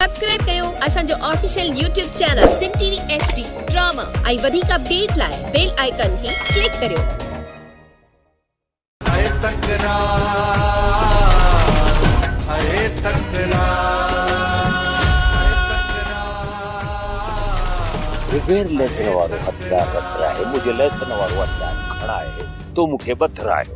Subscribe ڪيو اسان جو official YouTube channel Sindh T V H D drama ۽ وڌيڪ اپڊيٽ لاء بيل آئيڪان کي ڪلڪ ڪريو. اي تڪرار اي تڪرار. ريوير ليسن وارو هٿيار رٿراهي منهنجي ليسن وارو هٿيار کڻائي تو مونکي بٿراهيو.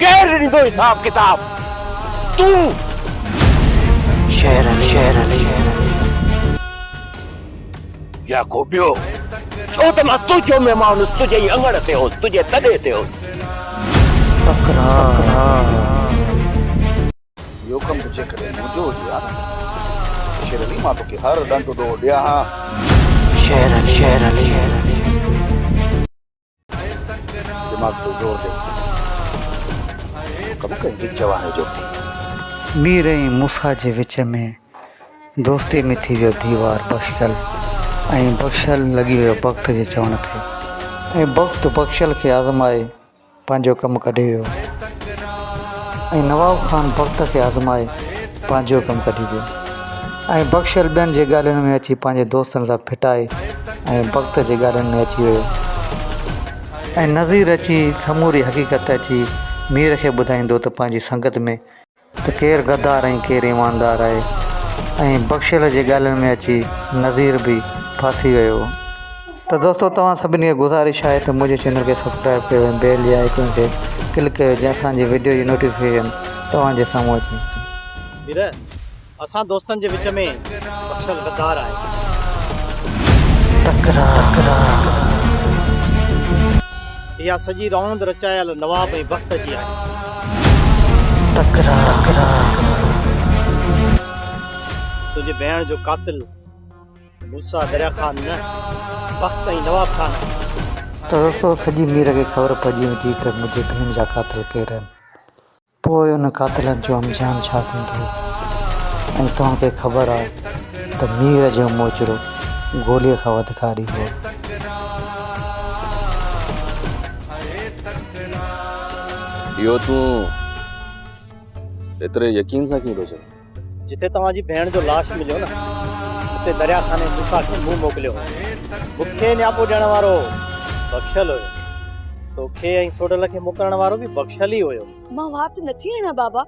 ڪير ڏيندو حساب ڪتاب تون شهرن شهرن يا ڪو ٻيو ڇو ته مان تنهنجو مهمان هوس تنهنجي ئي اڱڻ تي هوس تنهنجي تڏي تي هوس تڪرار اهو ڪم به جيڪڏهن منهنجو هجي ها نه ته شير علي مان توکي هر ڏنڊ ڏوهه ڏيان ها شهرن شهرن دماغ تي زور ڏي. ڪم ڪري ڏي جواني جو ٿي. مير ۽ موسيٰ جي وچ ۾ دوستي ۾ ٿي ويو ديوار بخشل ۽ بخشل لڳي ويو بخت جي چوڻ تي ۽ بخت بخشل کي آزمائي پنهنجو ڪم ڪڍي ويو ۽ نواب خان بخت کي آزمائي پنهنجو ڪم ڪڍي ڏي ۽ بخشيل ٻين جي ڳالهين ۾ اچي پنهنجي دوستن سان ڦٽائي ۽ بخت جي ڳالهين ۾ اچي ويو ۽ نظير اچي سموري حقيقت اچي مير کي ٻڌائيندو ته پنهنجي سنگت ۾ ته ڪير غدار ۽ ڪير ايماندار آهي ۽ بخشيل جي ڳالهين ۾ اچي نظير به ڦاسي ويو. ته دوستو توهان سڀني کي گذارش آهي ته منهنجي چينل کي سبسڪرائب ڪيو ۽ بيل جي آئيڪون تي ڪلڪ ڪيو جيئن اسان جي وڊيو جي نوٽيفڪيشن توهان جي سامهون اچي ويري اسان دوستن جي وچ ۾ بخشل غدار آهي اها سڄي راند رچايل نواب ۽ بخت جي آهي تنهنجي ڀيڻ جو قاتل موسيٰ دريا خان نه بخت ۽ نواب خان ته دوستو سڄي مير کي خبر پئجي ويندي ته منهنجي ڀيڻ جا قاتل ڪير آهن پوء انهن قاتلن جو انجام ڇا ٿيندو ۽ توهان کي خبر آهي ته مير جو موچڙو گوليء کان وڌ ڪاري هو. اهو تون ايتري يقين سان ڪيئن ٿو چوين؟ جتي توهان جي ڀيڻ جو لاش مليو نه اتي دريا خاني موسا کي مون موڪليو مونکي نياپو ڏيڻ وارو بخشل هيو توکي ۽ سوڊل کي موڪلڻ وارو به بخشل ئي هيو مان وات نٿي اڻا بابا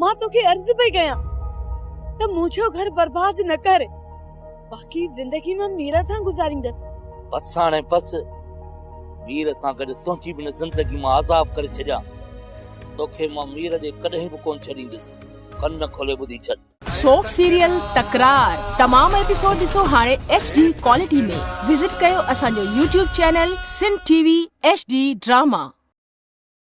مان توکي عرض پئي ڪيان ته منهنجو گهر برباد نه ڪر باقي زندگي مان ميرا سان گذاريندس بس هاڻي بس مير سان گڏ تنهنجي به زندگي مان عذاب ڪري ڇڏيا توکي مان مير ڏي ڪڏهن به ڪون ڇڏيندس ڪن کولي ٻڌي ڇڏ. سوپ سيريل تڪرار تمام ايپيسوڊ ڏسو هاڻي ايڇ ڊي ڪوالٽي ۾ وزٽ ڪيو اسان جو YouTube channel Sindh T V H D drama.